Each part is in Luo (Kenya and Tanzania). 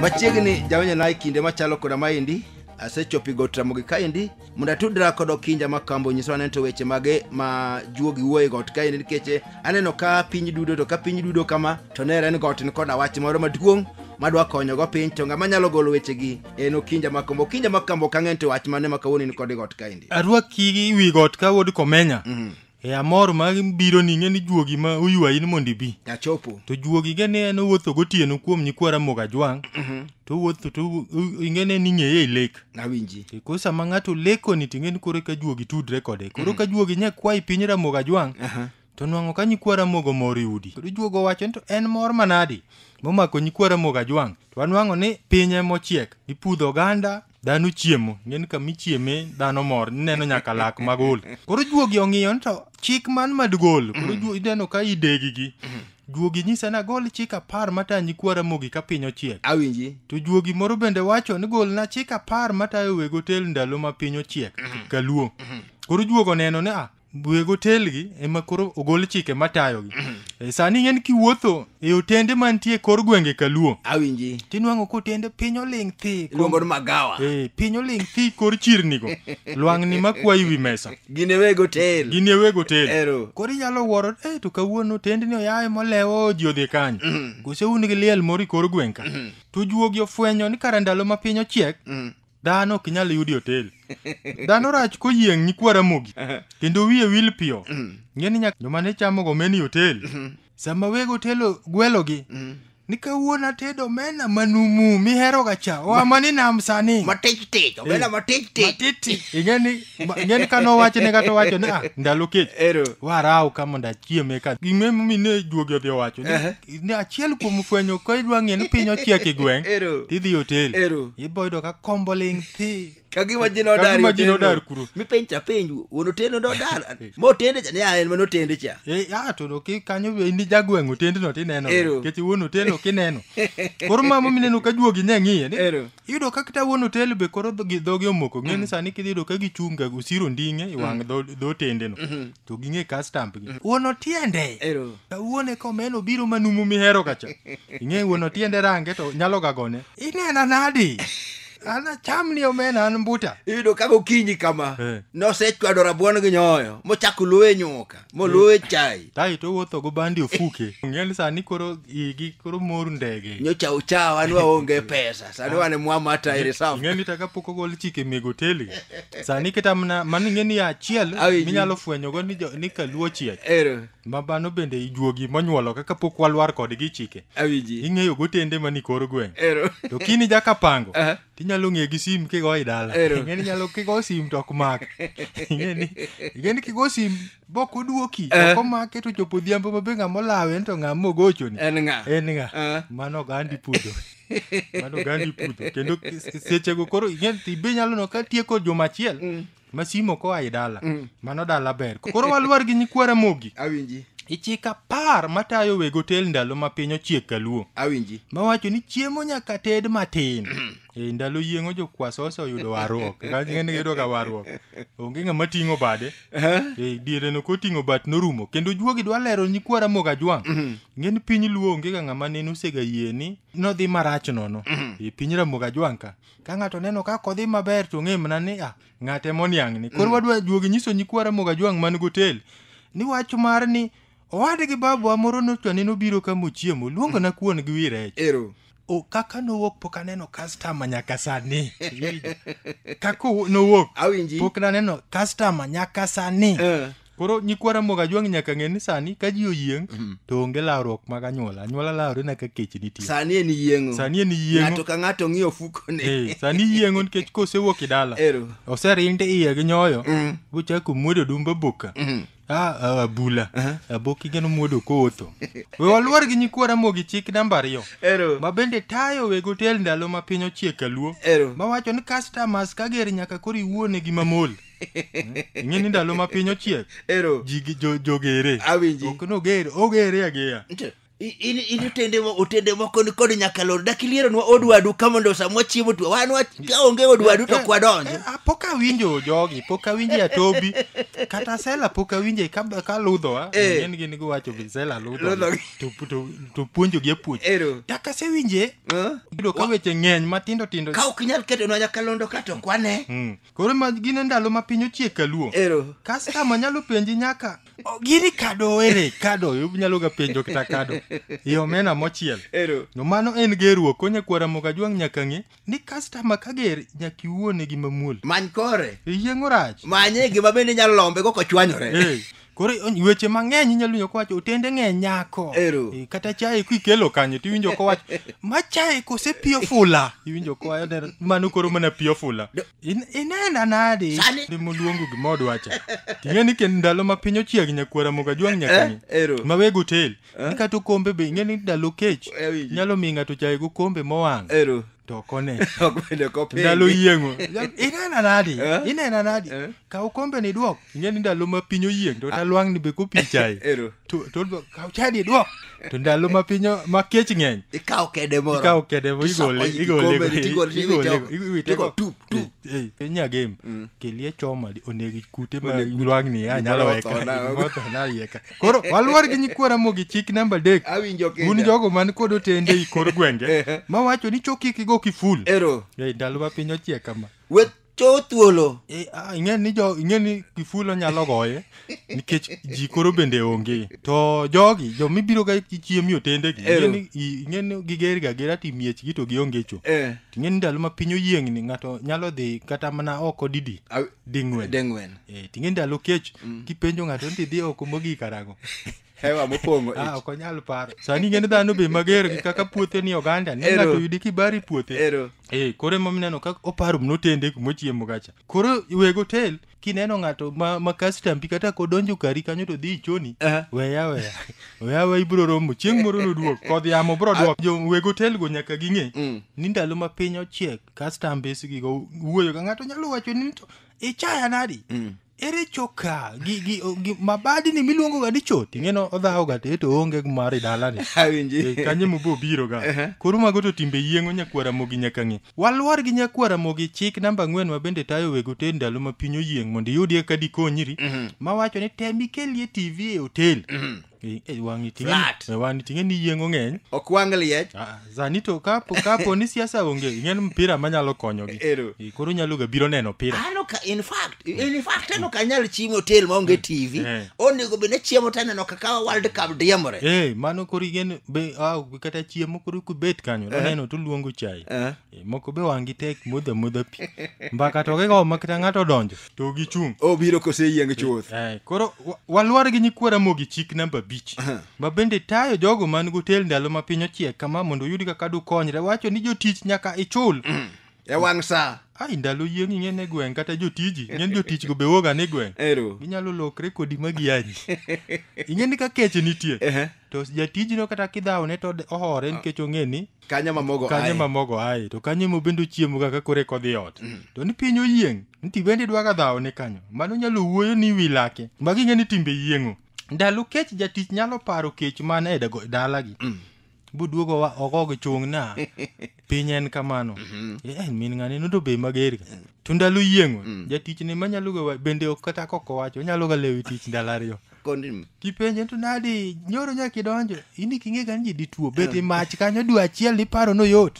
machiegni jawanyona e kinde machalo koda maendi asechopo i got ramogi kaendi mondo atudra kod okinja ma kambo nyiso aneno to weche mage ma juogi wuoye got kaendi nikech aneno ka piny dudo to ka piny dudo kama to nere en got ni koda wach moro maduong' madwa konyogo piny to ng'ama nyalo golo wechegi en okinja makombo okinja makombo ok ang'eny to wach mane ma kawuono in kod got kaendi arwaki wi got ka wuod komenya Mhm. e amor ma biro ni ng'e ni juogi ma oywayi ni mondo ibi achopo to juogi ge ni en owuotho gotieno kuom nyikwa ramoga jwang' to owuotho to u- u- ing'e ne ni ng'eye e lek awinji E koro sama ng'ato lekoni to ing'e ni koro ka juogi tudre kode koro ka juogi nya kwayi piny ramoga jwang' Aha. to nwang'o ka nyikwa ramogo mor yudi kendo juogo wacho ni to en mor manadi momako nyikwa ramogo ajwang' to anwang'o ni piny emochiek ipudho oganda dhano chiemo ng'eni kama ichieme dhano mor ineno nyaka lak magol koro juogi ong'iyo ni to chik man madgol koro juo- ineno ka idegigi juogi nyisa ni agol chik apar matayo nyikwa ramogi ka piny ochiek awinji to juogi moro bende wacho ni golna chik apar matayo weg otel ndalo ma piny ochiek kaluo koro juogo neno ni a weg otelgi ema koro ogol chike matayogi e, sani ing'eni kiwuotho e otende mantie kor gwenge kaluo awinji tinwang'o kotende piny oling' thi iluongo ni magawa e, piny oling' thi kor chirnigo lwang'ni makwayi wi mesa gin e weg otel gin e weg otel Ero. koro inyalo wuoro e to kawuono otendni oyaye molewo ji odhi kanyo kose un gi liel moro i kor gweng' ka to juogi ofwenyo ni kara ndalo ma piny ochiek Dhano ok inyal yudi otel. Dhano rach koyieng' nyikwa Ramogi kendo wiye wil piyo. Ng'e ni nyaka joma ne chamo go meni otel. Sama weg otelo gwelogi ni kawuono atedo mena manumu mihero ga cha. Oa mani nam sani. matich tich obela matich tich Matiti. Ing'e ni ma- ing'e ni kano wacho ne kata wacho ni ah ndalo kech. ero Waraw ka mondo achiem eka. Ging'e mine juogi odhi owacho ni Ehe. ni achiel kuom fwenyo ka idwa ng'e ni piny ochiek e gweng' Ero. tidhi e otel Ero. iboyudo ka kombo ling' thi kagima ji nodar Kagima ji nodar kuro. mipenj to apenj wuon otendo nodar motende cha ne a en manotende cha E, ah, to no, ki- kanyo be ni jagweng' otendno tineno Ero. nikech wuon otel ok ineno koro mama mineno ka juogi ne ng'iye ni Ero. iyudo ka kata wuon otel be koro dhogi dhogi omoko ng'e ni sani kidhi yudo ka gichunga osiro nding'e i wang' dho dho otendeno to ging'e ka stamp gi wuon otiende Ero. wuon e komen obiro manumu mihero kacha ing'e wuon otiende range to nyalo gagone inena nadi an acham ni omena an mbuta iyudo ka gokinyi kama Eh. nosechwado rabuon gi nyoyo mochako luwe nyuka moluwe chai tai to wuotho go bandi ofuke ng'e ni sani koro igi koro mor ndege nyocha uchawa ni waonge pesa sani wane mwama ata ere safu ing'eni taka pok ogol chike meg oteli sani kata mana mano ing'eni ya achiel Awi ji. minyalo fwenyogo ni, jo- ni kaluo chiek ero ma mano bende ijuogi monyuolo kaka pok walwar kodgi chike awiji ing'eyo gotende mani kor gweng' ero to kini jaka pango Aha. tinyalo ng'e gi sim kigo i dala Ero. ing'eni nyalo kigo sim to ok mak ing'eni ing'eni kigo sim Bok oduoki, Eh. ok omake to chopo odhiambo mabe ng'ama olawe en to ng'ama ogochoni. En ng'a? En ng'a? Eh. Mano ogandi pudho. Mano ogandi pudho. Kendo s- sechego koro ing'e ni be nyalo no ka tieko juma achiel ma simo koa e dala. Mano dala ber. Koro walwar gi nyikwa Ramogi. Awinji. Ichik apar matayo weg otel ndalo ma piny ochiek kaluo. Awinji. Mawacho ni chiemo nyaka ted matin. E ndalo yieng'o jokwaso oseoyudo warruok. Kaka ng'eni giyudo ka warruok. Onge ng'ama ting'o bade. Aha. Eh, diere no koting'o bat norumo kendo juogi dwa lero nyikwa ramogi ajwang' ngeni piny luo onge ga ng'ama nene osega yie ni nodhi marach nono e piny ramogi ajwang' ka ka ng'ato neno kaka odhi maber to ng'e mana ni ah, ng'ate moniang' ni koro wadwa juogi nyiso nyikwa ramogi ajwang' man gotel ni wach mar ni Owad gi babawa moro nochwane nobiro ka mochiemo, luongona kuon gi wi rech. Ero. O, kaka nowuok pok aneno customer nyaka sani. Iwinjo? Kaka owu- nowuok Awinji. pok naneno customer nyaka sani. Eh. Koro nyikwa Ramogi Ajwang' nyaka ng'e ni sani ka ji oyieng' to onge lawruok mag anyuola. Anyuola lawre na ka kech nitie. Sani en yieng'o. Sani en yieng'o. Ng'ato ka ng'ato ng'iyo ofukone. Eh, sani yieng'o nikech kosewuok e dala. Ero. Oserinde iye gi nyoyo. Mm. Gochako muodo dumba boka. Mhm. Ah, ah, abula aboki geno muodo kotho we waluor gi nyikwa ramogi chik namba ariyo Ero. ma bende tayo weg otel ndalo ma piny ochiek kaluo Ero. mawacho ni customers ka ger nyaka koro iwuone gi mamol ing'e ni ndalo ma piny ochiek Ero. ji gi- jo- jogere Awinji. ok nogere ogere ageya Nte. I- in in otende mo- otende moko ni kod nyaka lor dak ilieronwa od wadu ka mondo samwa chiemo tu wan wa- ka onge od wadu to kwadonjo Eh, ah, pok awinjo jogi pok awinje atobi kata sela pok awinje ka, ka ludhowa Eh. en gin giwacho vi sela ludho Ludho. to, to, to puonjogi apuonj Ero. dak asewinje Eh? yudo ka weche ng'eny matindo tindo ka ok inyal ketonwa nyakalondo ka to kwane Mm. Koro ma gin e ndalo ma piny ochiek kaluo. Ero. Customer nyalo penji nyaka "Oh, gini kado ere kado inyalo ga penjo kata kado e omena mochiel. Ero. No mano en gerruok konye kwara moga jwang' nyaka ng'e ni customer ka ger nyaka iwuone gi mamuol. Many kore. Iyieng'o rach. Manye gima bende inyalo lombe go kochwanyore. Eh, koro on- weche mang'eny inyalo winjo kowacho otende ng'e nyako Ero. Eh, kata chae kikelo kanyo tiwinjo kowacho ma chae kose pio fula iwinjo kowacho "Ner- mano koro mana pio fula In- inena nadi Sani. moluongo gima odwacha ting'e ni kendo ndalo ma piny ochieg nyakwara moga juang' Eh, nyakani ero. ma weg otel ni kata okombe be ing'e ni ndalo kech Eh, winji. nyalo miyo ng'ato chae gokombe mowang' Ero. to okone Ok bende kopingi. ndalo yieng'o inena nadi Eh? inena nadi Eh? kaw kombe ni duok ing'e ni ndalo ma piny oyieng to talwang'ni be kopichae Ero. to to odwa kaw chadi idwok to ndalo ma piny o- ma kech ng'eny Ikawo kede moro. ikawo kede mo Tisoko igole i igole kikombe ni, tigole ni, igole iwitego. iwitego Tigo, tup, tup. Eh, eh, nya game kelie choma di- onegi kute ma Oneg- lwang'ni Gimoro anyalo otho weka na- gimoro otho na yeka koro waluor gi nyikwara mogi chik namba adek Awinjo kenda. un jogo man kod otende i kor gwenge mawacho ni chokik igo kiful Ero. Eh, ndalo ma piny ochiek kama Wet cho thuolo e, a, ing'e ni jo ing'e ni kifulo nyalo goye nikech ji koro bende onge to jogi jo mibiro ga chiemo otende gi ing'e ni i- ing'e ni giger ga gera ti miech gi to gionge cho Eh. ing'e ni ndalo ma piny oyiengni ng'ato nyalo dhi kata mana oko didi Aw- ding'wen deng'wen Eh, ting'e ndalo kech kipenjo ng'ato ni idhi oko mogik karago hewa mopong'o ah, ich. ok onyal paro sani ing'eni dhano be mager gi kaka puothe ni oganda ne Ero. ng'ato yudi kibari puothe Ero. eh koro ema mineno kaka oparo mnotende kumochiemo gacha koro weg hotel kineno ng'ato ma, ma kastambi kata kodonjo kari kanyo to dhi ichoni Aha. weya weya weya weya ibro romo chieng' moro noduok kodh yamo bro duok jo weg hotel go nyaka ging'e Mm. ni ndalo ma piny ochiek kastambes gigo wuoyo ga ng'ato nyalo wacho ni to ichaya nadi ere choka gi, gi, gi mabadini miluongo ga ni choti ing'eno odhawo ga te to onge mar e dalani Eh, awinji kanye mobo biro ga Ehe. koro mago to timbe yieng'o nyakwara mogi nyaka ng'e walwar gi nyakwara mogi chik namba ang'wen ma bende tayo weg otel ndalo ma piny oyieng' mondo iyudie ka dikonyri mawacho ni tem ikelie tv e otel Eh, eh, wang'i ting'e ni- Flat. eh, wang'i ting'e ni yieng'o ng'eny ok wang liech Ah, sani to kapo kapo ni siasa onge ing'en mpira manyalo konyogi Ero. Eh, koro nyalo ga biro neno pira an ok in fact in fact an ok anyal chiemo hotel maonge tv Eh. onego bed ni chiemo to aneno kaka world cup diemore Eh, mano koro ing'en be ah, kata chiemo koro kubet kanyo oneno to luongo chai Eh. Eh, moko be wang'gi tek modha modha pi mbaka to gigo ma kata ng'ato odonjo to gichung' obiro koseyieng chuth Eh, koro wa- walwar gi nyikwa ramogi chik namba abich ma bende tayo jogo man gotel ndalo ma piny ochiek kama mondo uyud kaka dukonyre wacho ni jotich nyaka ichul e wang' sa ai ndalo yieng' ing'ene gweng' kata jotiji ing'eni jotichgo be woga ni gweng' ero ginyalo lokre kodi ma gianyi ing'eni ka kech nitie Ehe. to jatijno kata kidhawone to de- ohore nikech ong'e ni kanye ma mogo kanye aye? ma mogo aye to kanye ma bende ochiemo ga ka kore kodhi ot to ni piny oyieng nti bende idwa ga dhawo ne kanyo mano nyalo wuoyo ni wi lake ma ging'e ni timbe yieng'o ndalo kech jatich nyalo paro kech man e dago- dalagi buduogo wa oko gi chung na piny en kamano Eh, en min ng'ane no to be mager ga to ndalo yieng'o jatich ne manyalo ga wa- bende ok kata kok owacho onyalo ga lewi tich ndalo ariyo kondni kipenje to nadi nyoro nyaka idonjo in iki ing'e gani ji dituo bet i mach kanyo dwe achiel niparo noyot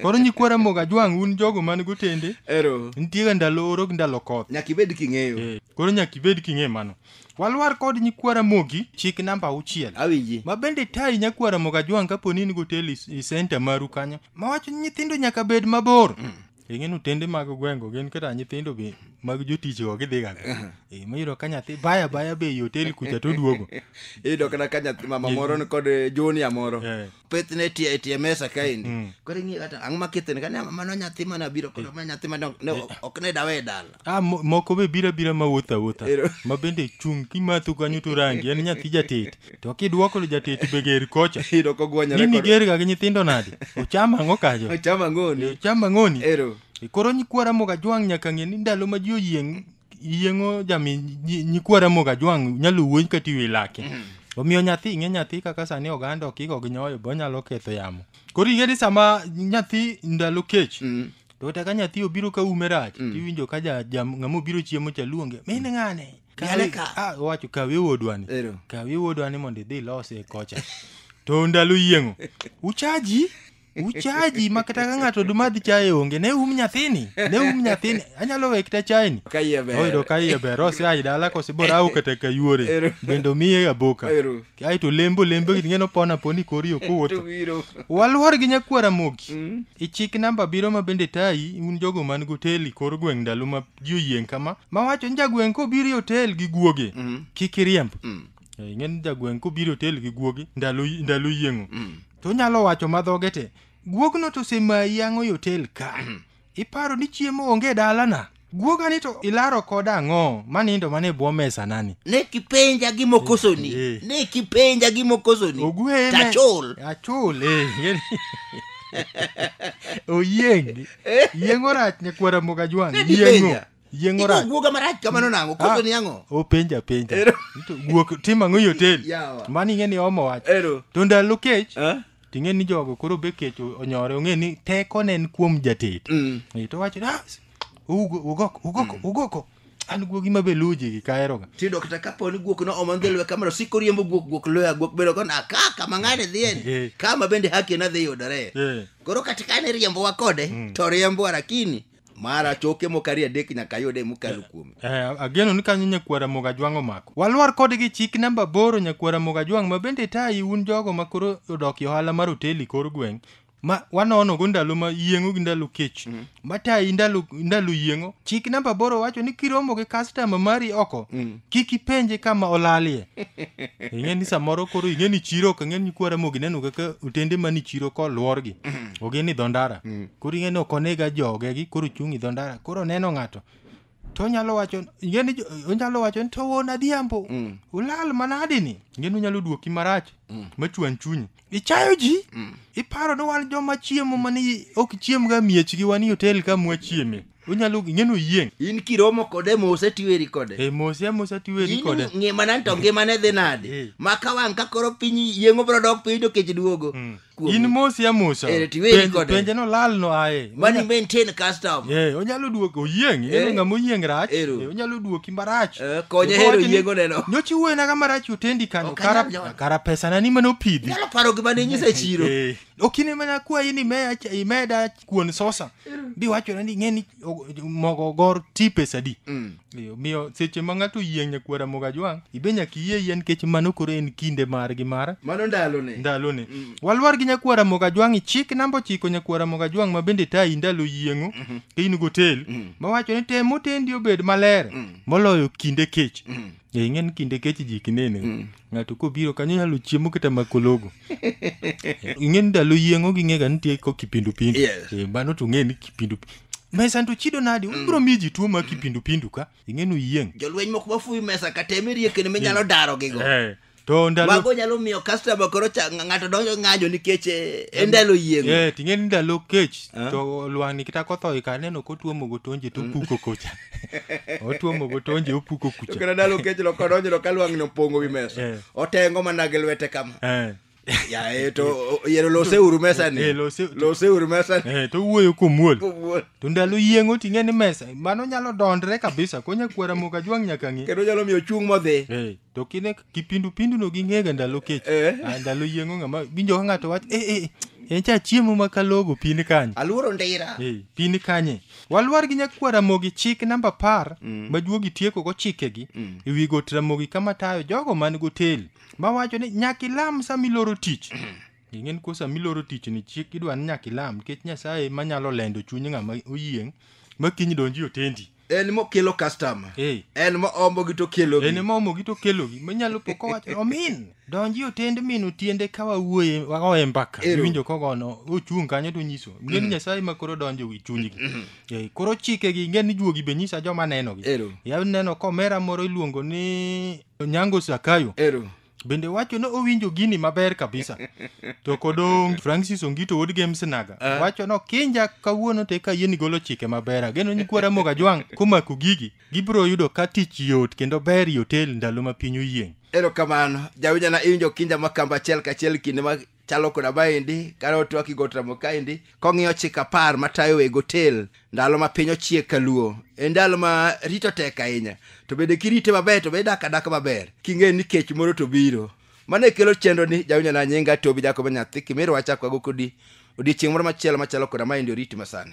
koro nyikwa ramoga jwang' un jogo man gotende ero nitie ga ndalo oro gi ndalo koth nyaka ibed king'eyo Eh, koro nyaka ibed king'e mano walwar kod nyikwa ramogi chik namba auchiel awinji ma bende tayi nyakwa ramoga jwang' kapo ni in goteli i senta maru kanyo mawacho ni nyithindo nyaka bed mabor ing'e ni otende mag gweng'go gin kata nyithindo be mag jotichgo gidhiga Eh, miyudo ka nyathi baya baya be i otel kucha to oduogo iyudo kata ka nyathi mama moro ni kod eh, junior moro Eh. pith ne tie tie mesa kaendi koro ing'iyo kata ang'o makithene kani mano nyathi mana biro koro ma nyathi mana ne ok ne dawe e dala Ah, mo- moko be bira bira ma wuotho awuotha Ero. ma bende chung' kimatho kanyo to rangi en nyathi jatet to kidwoko ni jatet be ger kocha Iro ko gwanyore nini kod- gerga gi nyithindo nade ocham ang'o kajo Ocham ang'oni. ocham ang'oni Ero. E koro nyikwara moga jwang' nyaka ng'e ni ndalo ma ji oyieng' yieng'o jami nyi- nyikwara moga jwang' nyalo wuony ka tiwe lake omiyo nyathi ing'e nyathi kaka sani oganda okiko gi nyoyo be onyalo ketho yamo koro ing'e ni sama nyathi ndalo kech to kata ka nyathi obiro ka ume rach mm. tiwinjo ka ja, ja, ng'ama obiro chiemo cha luonge min mm. ng'ane ah, owacho kawe wuodwani kawe wuodwani mondo idhi ilose kocha to ndalo yieng'o uchaji uchaji ma kata ka ng'ato dumadhi chaye onge ne um nyathini ne um nyathini anyalo we kita chayeni oyudo ka iye ber ose ayi dala kose bora awo kata kayuore bende omiye aboka ae to lembo lembo gini ng'eno pona poni kori ok owuotho To biro. walwar gi nyakwar amogi Mm. e chik namba biro ma bende tayi un jogo man gotel i kor gweng' ndalo ma ji oyieng' kama ma wacho ni jagweng' kobiro e otel gi guoge Mm. kik iriemb Mm. Eh, ing'eni jagweng' kobiro e otel gi guoge ndalo ndalo yieng'o Mm. to onyalo wacho madhoge te guogno to osemayi ang'o e otel ka iparo ni chiemo onge dalana guoga ni to ilaro koda ang'o manindo mane bwo mesa nani ne kipenja gimokosoni Eh, eh. ne kipenja gimokosoni ogweye me- tachul achul eh, ngeni. oyieng yieng orach nyakwara moga jwang Ne yieng'o dipenja. yieng Iko orach guoga marach kamano nang'o kosoni Ah, ang'o openja penja Ero. To guok tim ang'o i hotel Yawa. mani ing'e ni omo wach Ero. to ndalo kech Eh? Ting'e ni jogo koro be kech o- onyore ong'e ni teko ne en kuom jatet. Mm. Eh, To wacho ah, s- ugo ugoko ugoko ugoko. An guogi ma be luji gi kaero ga. tiyudo kata kapo ni guok no omandhe lwe kamano siko riembo guok guok loya guok bedo kona ka kama ng'ane Eh. dhien kama bende haki nadhi yudore Eh. koro kata kane riembowa kode to riembowa lakini mara choke moko ariyo adek nyaka yude mokalo kuome Eh, ageno ni kanyo nyakwara moga jwang' omako walwar kode gi chik namba boro nyakwara moga jwang' ma bende tayi un jogo ma koro odok e ohala mar oteli kor gweng' ma wanonogo ndalo ma yieng'o gi ndalo kech ma tayi ndalo, ndalo yieng'o chik namba boro wacho ni kiromo gi kastama mari oko kik ipenje kama olalie ing'e ni samoro koro ing'e ni chiro ok ing'e ni nyakwara mogi neno kaka otende mani chiro kolworgi ogi ni dho ndara koro ing'e ni ok onega joge gi koro chung' i dho ndara koro oneno ng'ato to onyalo wacho ing'e ni jo- onyalo wacho ni to wuon adhiambo Mm. ulal manadi ni ing'e ni onyalo duoki marach machwan chunyi ichayo ji iparo ni wan joma chiemo mani ok chiemga miechgi wan i hotel ka mwachieme onyalo ing'e ni oyieng' in kiromo kode mose tiweri kode e mose amosa tiweri In kode ngimana to ngimane dhi Eh. nade ma ka wang' ka koro piny yieng'o bro dok piny to kech duogo Mm. kuomi. in mosi amosa Eh, tiweri Penj- kode. penje no lal no aye Mani maintain custom. Eh, onyalo duoko oyieng Eh. en ng'ama oyieng rach Ero. Eh, onyalo duoki marach Eh, konye Eko hero wacho ni, yiengo neno. nyocha iwuoyona ga marach otendi kano Ok kara, anyal jona. kara pesana ni mane opidhi Nyalo paro gima ne inyisa e chiro. Eh, ok ine mana kwayi ni meya ch- imeda kuon sosa biwachona ni ng'eni o- mogo ogor ti pesadi Ee, Omiyo seche ma ng'ato oyieng' nyakwar Ramogi Ajwang', ibe nyaka iyie yie nikech mano koro en kinde margi mar Mano ndalone. ndalone. Walwar gi nyakwar Ramogi Ajwang' chik namba ochiko nyakwar Ramogi Ajwang' ma bende tayi ndalo yieng'o ka in gotel mawacho ni tem otendi obed maler moloyo kinde kech. Ee, ing'e ni kinde kech ji kinene. ng'ato kobiro kanyo nyalo chiemo kata makologo ing'e ni ndalo yieng'o ging'ega nitie ko kipindupindu Yes. Eh, mano to ng'e ni kipindu mesa to chido nadi ubiro miyo ji tuo ma kipindupindu ka ing'e ni uyieng' jolweny moko mafuyi mesa kata emerie kendo minyalo daro gigo Eh, to ndalo mago nyalo miyo customer koro cha- ng'ato donjo ng'anjo nikech eh, e ndalo yieng'o Eh, ting'e ni ndalo kech Ah. to lwang'ni kata kothoe ka aneno kotuomo gotonje to puko kocha otuomo go tonje opuko kucha kendo ndalo kech loko odonjno ka lwang'ni opongo wi mesa eh. otengo mana gi lwete kama eh. yae to yero lose uru mesani eh, lose uru mesani to wuoyo komuol to ndalo yieng'o ting'e ni mesa mano nyalo dondre kabisa konya kwera moka jwang' nyaka ng'e kendo nyalo miyo chung' modhi to kine kipindu pindu no ging'ega ndalo kech Eh. Ah, ndalo yieng'o ng'ama winjo ka ng'ato wach eh eh en cha chiemo ma kalogo pin kanye aluoro ndira Eh, pin kanye walwar gi nyakwar ramogi chik namba par majuogi tieko go chikegi e wi got ramogi kama tayo jogo man goteli mawacho ni nyaka ilam sama iloro tich ing'en ko sama iloro tich ni chik idwa ni nyaka ilam nikech nyasaye manyalo lendo chuny ng'ama oyieng' ma kiny donji otendi en mokelo customer Eh. en moombogi to kelogi en ema omogi to kelogi minyalo po kowacho omin donji otend min otiende ka wawuoye wagoye mbaka Ero. iwinjo kogono ochung' kanyo to nyiso ngeni nyasaye ma koro donjo wi chunygi Eh, koro chikegi ngeni juogi be nyisa joma nenogi Ero. ya neno komera moro iluongo ni nyango sakayo ero bende wacho ni owinjo gini maber kabisa to kodong francis ongito wuod games naga uh. wacho no kinja kawuono te ka yeni golo chike maber ageno ni kwara moga jwang komako gigi gibro yudo ka tich yot kendo ber yotel ndalo ma piny oyieng erokamano jawinjana iwinjo kinja makamba achiel kachiel kinde ma chalo koda maendi kane otwaki got ramo kaendi kong'iyo chik apar matayo weg otel ndalo ma piny ochiek ka luo e ndalo ma rito tek ahinya to bende kirite maber to be idak adaka maber king'e ni kech moro to biro mano e kelo chenro ni jawinjo na nyinga tobi jakobo nyathi kimirwa chakwago kodi odiechieng' moro machielo machalo koda maendi oriti masani